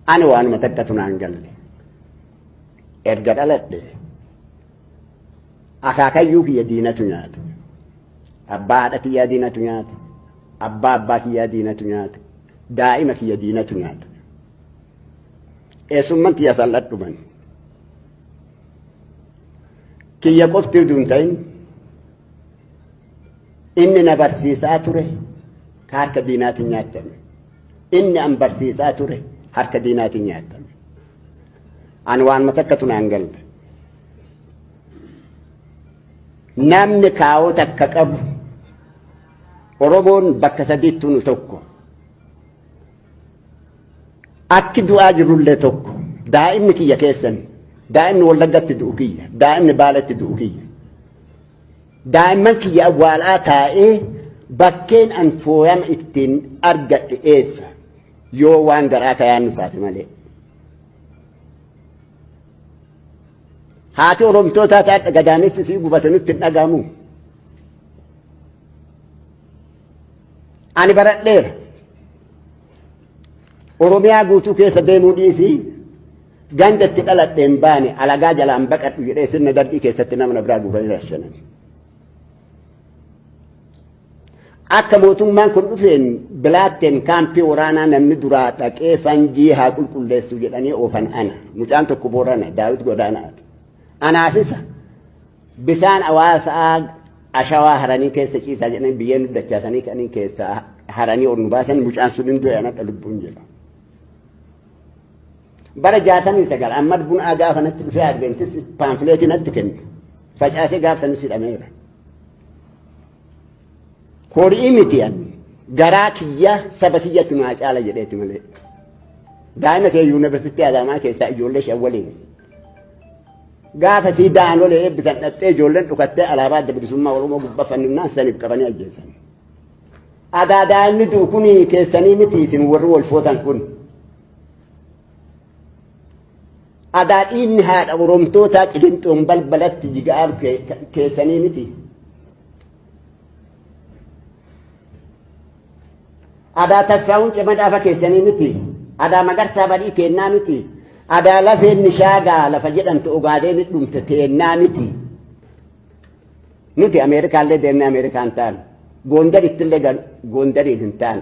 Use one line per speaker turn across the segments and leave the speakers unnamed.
Ani waanuma takkatu naan galle. Erga dhaladhe akaakayyuu kiyya diinatu nyaate. Abbaa haadha kiyyaa diinatu nyaate. Abbaa abbaa kiyyaa diinatu nyaate. Daa'ima kiyya diinatu nyaate. Eessumman kiyya sal'adhuman. Kiyya qofti utuu hin ta'in Inni na barsiisaa ture ka harka diinaatiin nyaatame. Inni an barsiisaa ture harka diinaatiin nyaatame. An waan matakkatu naan galle. Namni kaawoo takka qabu Oromoon bakka sadiitti nu tokko. Akki du'aa jirullee tokko. Daa'imni kiyya keessan. Daa'imni Wallaggatti du'u kiyya. Daa'imni Baaletti du'u kiyya. Daa'imman kiyya awwaalaa taa'ee bakkeen an fooyama ittiin argadhe eessa yoo waan garaa kayaan nu taate malee. Haati Oromtootaa taate gadaamessi sii gubate nutti hin dhagahamu. Ani baradheera. Oromiyaa guutuu keessa deemuu dhiisii Ganda itti dhaladhe hin baane alagaa jalaan baqadhu jedhee sirna darbii keessatti nama na biraa guuranii rashanan. Akka mootummaan kun dhufeen bilaatteen kaampii waraanaa namni duraa dhaqee fanjii haa qulqulleessu jedhanii oofan ana. Mucaan tokko boorana daawit godaanaati. Anaafisa bisaan hawaasaa ashawaa haranii keessa ciisaa jedhanii biyyeen dachaasanii kaniin keessaa haranii ol nu baasan mucaan sun hin du'e anadha lubbuun jedha. bara jaatamii sagal ammad bunaa gaafa natti dhufee adventis paamfileetii natti kenne facaasee gaafsanis hidhameera. Horii miti an garaa kiyya saba kiyyatti naa caala jedheeti malee. Daa'ima kee yuunivarsiitii Adaamaa keessaa ijoollee shan waliin. Gaafa sii daanolee eebbisan dhattee ijoolleen dhukattee alaabaa adda bilisummaa Oromoo gubbaa fanninnaan saniif qabanii ajjeesan. Adaa daa'imni du'u kun keessanii miti isin warri wal footan kun. Adaa dhiinni haadha Oromtootaa qilinxoon balbalatti jiga'aan keessanii miti. Adaa tassaa'uun cima dhaafa keessanii miti. Adaa magarsaa badii keennaa miti. Adaa lafeen nishaagaa lafa jedhamtu ogaadeen dhumte teennaa miti. Nuti Ameerikaallee deemnee Ameerikaa hin taanu. Goondarittillee gal Goondariin hin taanu.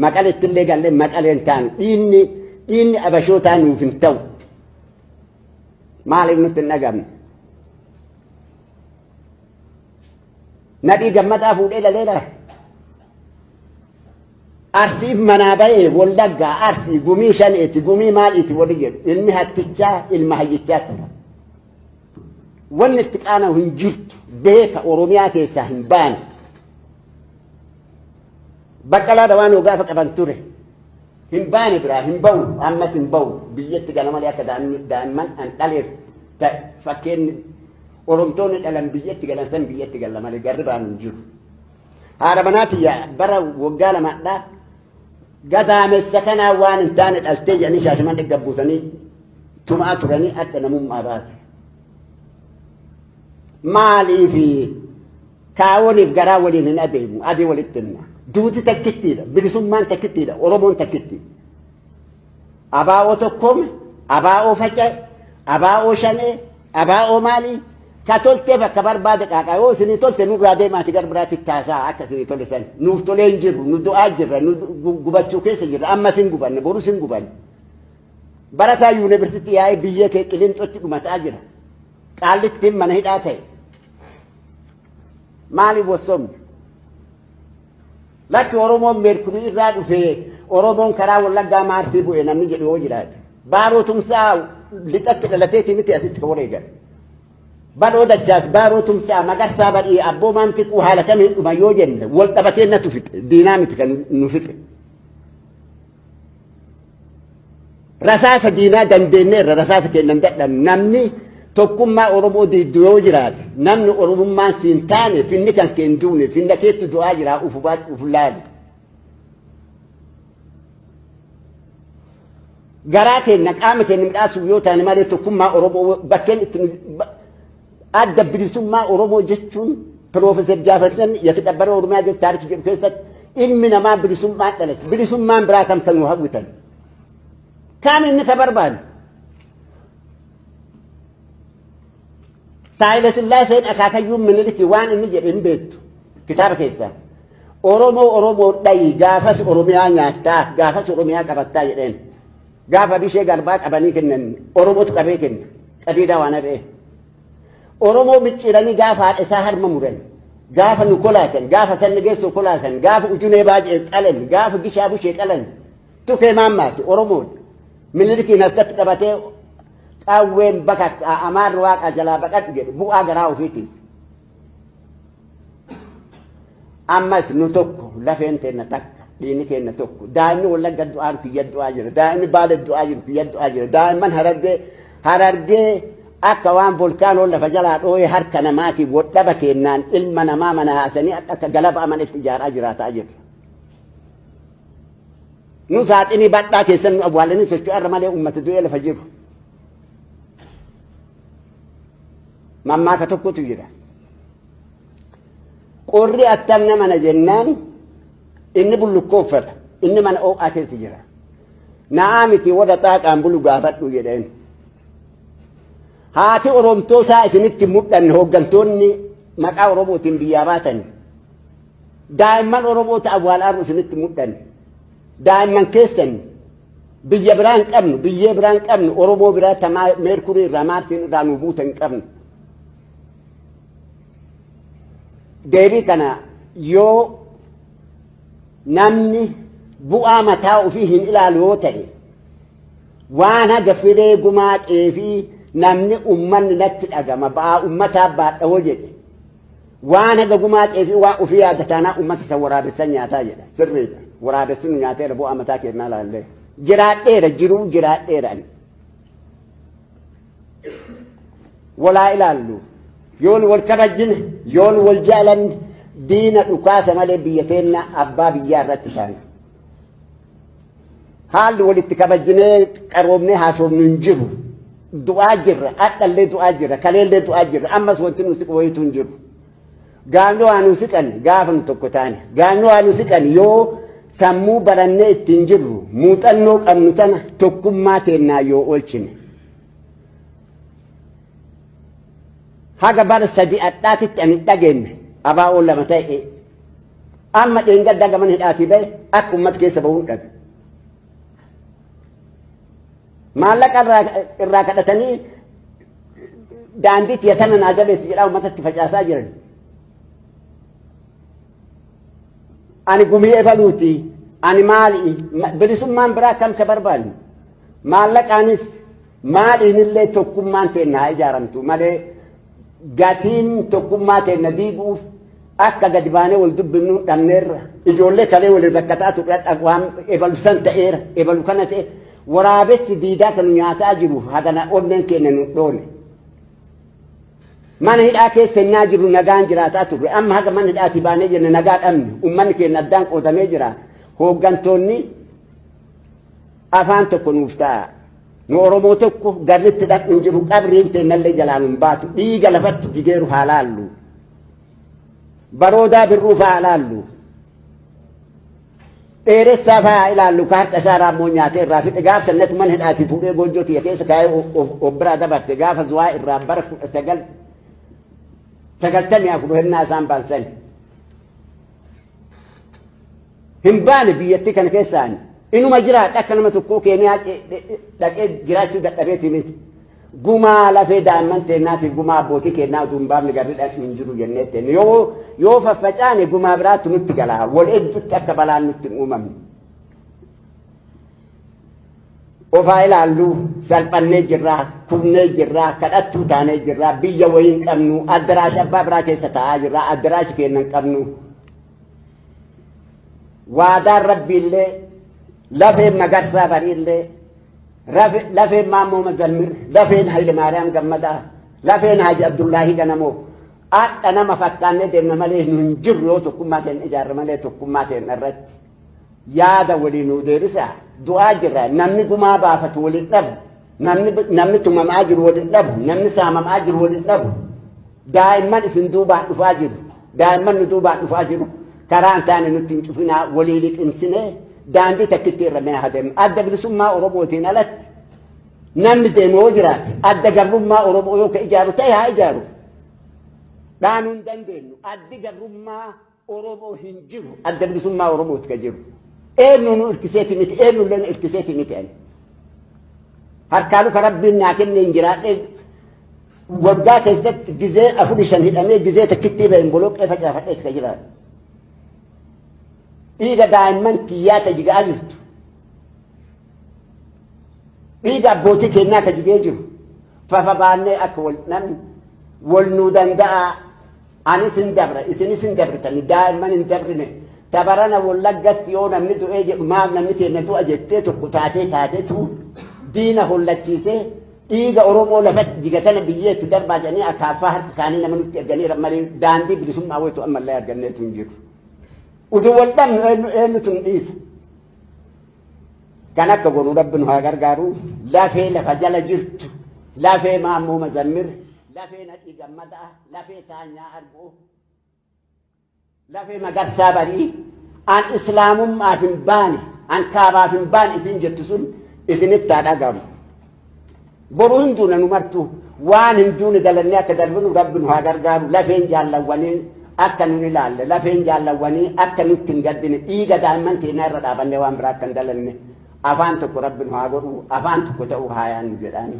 Maqaleettillee gallee Maqalee hin taanu. Dhiinni dhiinni abashootaa nuuf hin ta'u. Maaliif nutti hin dhagamne? Nadhii gammadaa fuudhee laleera. Arsiif manaa bahee wallaggaa arsii gumii shaneeti gumii maaliiti wali jedhu ilmi hattichaa ilma hayyichaa tura. Wanni itti qaana'u hin jirtu beeka Oromiyaa keessaa hin baane. Baqqalaa dawaanoo gaafa qaban ture. Hin baane biraa hin ba'u ammas hin ba'u biyyatti gala malee akka daa'imman an dhaleef ta'e fakkeenyi Oromtoonni dhalan biyyatti galan san biyyatti gala malee garri baanu hin jiru. Haadha manaa tiyya bara waggaa lamadhaa Gadaamessa kanaa waan hin taane dhaltee jedhanii shaashaman dhigga buusanii tumaa turanii adda namummaa baate. Maaliifi kaawoniif garaa waliin hin adeemu adii walitti himna. Duuti takkittiidha bilisummaan takkittiidha oromoon takkittiidha. Abaa'oo tokkoome, abaa'oo faca'e, abaa'oo shanee, abaa'oo maalii ka toltee bakka barbaade qaaqaa yoo isinii tolte nurraa deemaati gara biraatti taasaa akka isinii tole san nuuf tolee hin jirru nu du'aa jirra nu gu- gubachuu keessa jirra amma sin gubanne boru sin gubanne barataa yuunivarsiitii yaa'ee biyya kee qilinxootti dhumataa jira qaallittiin mana hidhaa ta'e maaliif wassomne Bakki Oromoon beektu irraa dhufee Oromoon karaa Wallaggaa Maarsii bu'e namni jedhu yoo jiraate. Baaroo tumsaa lixatti dhalateeti miti asitti kan wareegan. Baloo dachaas baaroo tumsaa magarsaa badhii abboomaan fiquu haala kamiin dhuma yoo jenne wal dhabatee natu fixe diinaa miti kan nu fixe. Rasaasa diinaa dandeenyeerra rasaasa kennan dadhabne namni tokkummaa Oromoo diiddu yoo jiraate namni Oromummaan siin taane finni kan keen duune finna keetti du'aa jiraa ufu baadhu ufu laali. Garaa keenya qaama keenya midhaasuuf yoo taane malee tokkummaa Oromoo bakkeen itti Adda bilisummaa Oromoo jechuun Piroofeesar Jaafasan yakidha bara Oromiyaa jiru taarikii jedhu keessatti ilmi namaa bilisummaa dhalas. Bilisummaan biraa kan kan hawwitan. Kaan inni ka barbaadu. Saayila Sillaaseen akaakayyuun miniliki waan inni jedhe hin beektu kitaaba keessaa. Oromoo Oromoo dhayi gaafas Oromiyaa nyaattaa gaafas Oromiyaa qabattaa jedheen. Gaafa bishee garbaa qabanii kennan Oromootu qabee kenna. Qadiidaa waan har'ee. Oromoo micciiranii gaafa haadha isaa harma muran. Gaafa nu kolaatan, gaafa sanni geessoo kolaatan, gaafa ujunee baajee qalan, gaafa gishaa bushee qalan. Tufee maammaati Oromoodha. Minilikiin harkatti qabatee qaawween bakakkaa amaarri waaqaa jalaa baqadhu jedhu bu'aa garaa ofiitiin. ammas nu tokko lafeen teenna takka dhiinni keenna tokko daa'imni wallagga du'aan kiyya du'aa jira daa'imni baale du'aa jiru kiyya du'aa jira daa'imman harargee harargee akka waan volkaanoo lafa jalaa dhooyee harka namaatiif wodhaba keennaan ilma namaa mana haasanii akka galaba amana itti ijaaraa jiraataa jirra. Nu saaxinii badhaa keessan nu awwaalanii socho'arra malee uummata du'ee lafa jiru. Mammaaka tokkotu jira. Qorri attam nama na jennaan inni bullukkoo uffata inni mana oo'aa keessa jira. Na'aa miti warra xaaqaan bulu gaafadhu jedheen. Haati Oromtoo isaa isinitti mudhanne hooggantoonni maqaa Oromootiin biyyaa baatan. Daa'imman Oromoota awwaalaaru isinitti mudhanne. Daa'imman keessan Biyya biraa hin qabnu, biyyee biraa hin qabnu, Oromoo biraa tamaa meerkurii irraa maarsiin irraa nu buute hin qabnu. Deebii kana yoo namni bu'aa mataa ofii hin ilaalu yoo ta'e waan haga firee gumaaqee fi namni ummanni natti dhagama ba'aa ummataa baadha hoo jedhe Waan haga gumaatee fi waa ofii yaada taanaa uummata san waraabessan nyaataa jedha. Sirriidha. Waraabessi nu nyaateera bu'aa mataa kennaa laallee. Jiraadheera jiruu jiraadheera ani. Walaa ilaallu. Yoon wal kabajjine yoon wal jaalanne diina dhukaasa malee biyya keenya abbaa biyyaa irratti taana. Haalli walitti kabajinee qaroomnee haasofnu hin jiru. Du'aa jirra, hadhallee du'aa jirra, kaleellee du'aa jirra, ammas wanti nu siqu wayitu hin jiru. Gaafni waa nu siqan gaafa nu tokko taane. Gaafni waa nu siqan yoo sammuu barannee ittiin jirru muuxannoo qabnu sana tokkummaa teennaa yoo oolchine. Haga bara sadii adhaatitti ani dhageenye abaa'oo lama ta'e Amma dheengaddaa gaman hidhaatii ba'e akka uummata keessa bahuun dhabe. Maallaqa irraa kadhatanii daandiitti yatana naa jabeessi jedhaa uummatatti facaasaa jiran. Ani gumii ebaluuti. Ani maali? Bilisummaan biraa kan ka barbaanne. Maallaqaanis Maaliinillee tokkummaan teenna haa ijaaramtu malee gatiin tokkummaa teenna diiguuf akka gadi baanee wal dubbifnu dhabneerra. Ijoollee kalee waliin rakkataa turre waan ebalu san ta'eera ebalu kana ta'e waraabessi diidaa kan nyaataa jiru hagana onneen keenya nu dhoone. Mana hidhaa keessa innaa jiru nagaan jiraataa turre amma haga mana hidhaatii baanee jenne nagaa dhabne uummanni keenya addaan qoodamee jira hooggantoonni Afaan tokko nuuf ta'a. Nu Oromoo tokko garritti dhaqni hin jiru qabriin teennallee jalaan hin baatu dhiiga lafatti jigeeru haa laallu. Baroodaa birruuf haa laallu. Dheeressaa fa'aa ilaallu ka harka isaa raammoo nyaatee irraa fixe gaafa sannatu mana hidhaatii fuudhee goojjoo tiyya keessa kaa'ee of biraa dabarte gaafa zuwaa irraa bara kudha sagal sagaltamii afur hennaa isaan baansan. hin baane biyyattii kana keessaan inuma jiraadha akka nama tokkoo keeniyaa dhaqee jiraachuu dadhabeeti miti. Gumaa lafee daa'imman teennaatiif gumaa abbootii keennaa utuu hin baafne garri dhaqni hin jiru jennee teenne yoo yoo faffacaane gumaa biraatti nutti gala wal hedduutti akka balaan nutti hin uumamne. ofaa ilaallu salphannee jirraa kufnee jirraa kadhattuu taanee jirraa biyya wayii hin qabnu addaraashi abbaa biraa keessa taa'aa jirraa addaraashi keenya hin qabnu waadaan rabbiillee lafeen magarsaa bariillee rafe- lafeen maammoo mazammir lafeen hayile maariyaam gammadaa lafeen haaji abdullaahi ganamoo akka nama fakkaannee deemna malee nu hin jirru yoo tokkummaa keenya ijaarre malee tokkummaa keenya irratti yaada walii nuu deebisaa du'aa jirra namni gumaa baafatu waliin dhabu namni namni tumamaa jiru waliin dhabu namni saamamaa jiru waliin dhabu daa'imman isin duubaan dhufaa jiru daa'imman nu duubaan dhufaa jiru karaan taane nutti hin cufinaa walii liqimsine daandii takkitti irra mee hadeemu adda bilisummaa oromootiin alatti namni deemu yoo jiraate adda gabrummaa oromoo yoo ka ijaaru ta'e haa ijaaru dhaanuu hin dandeenyu addi gabrummaa Oromoo hin jiru adda bilisummaa Oromooti ka jiru. Eenyu nu irkiseeti miti eenyu illee nu irkiseeti miti ani. Harkaa luka rabbiin naa kenne hin jiraadhe waggaa keessatti gizee afur shan hidhamee gizee takkittii ba'een boloqqee facaafadheeti ka jiraatu. Dhiiga daa'imman kiyyaa ta jigaa jirtu. Dhiiga abbootii kennaa ka jigee jiru. Fafa baannee akka wal namni wal nuu danda'aa Anis hin dabra isinis hin dabritani daa'imman hin dabrine tabarana wallaggatti yoo namni du'ee jedhu maaf namni keenya du'a jettee tokko taatee kaatetu diina hollachiisee dhiiga Oromoo lafatti jigatana biyyee itti darbaa jedhanii akaaffaa harka isaanii nama nutti erganiira malee daandii bilisummaa waytu ammallee arganneetu hin jiru. Utuu wal dhabnu eenyu eenyutu hin dhiisa. Kan akka godhu rabbi nu haa gargaaru lafee lafa jala jirtu lafee maammoo mazammir lafee nadhii gammadaa. lafee saanyaa arguu lafee magarsaa barii an islaamummaaf hin baane an kaabaaf hin baane isin jettu sun isinitti haa dhagahamu boru hin duuna nu martu waan hin duune dalannee akka darbinu rabbi nu haa gargaaru lafeen jaallawwanii akka nun ilaalle lafeen jaallawwanii akka nutti hin gaddine dhiiga daa'imman keenyaa irra dhaabannee waan biraa akka hin dalanne afaan tokko rabbi nu haa godhu afaan tokko ta'uu haa yaannu jedhaani.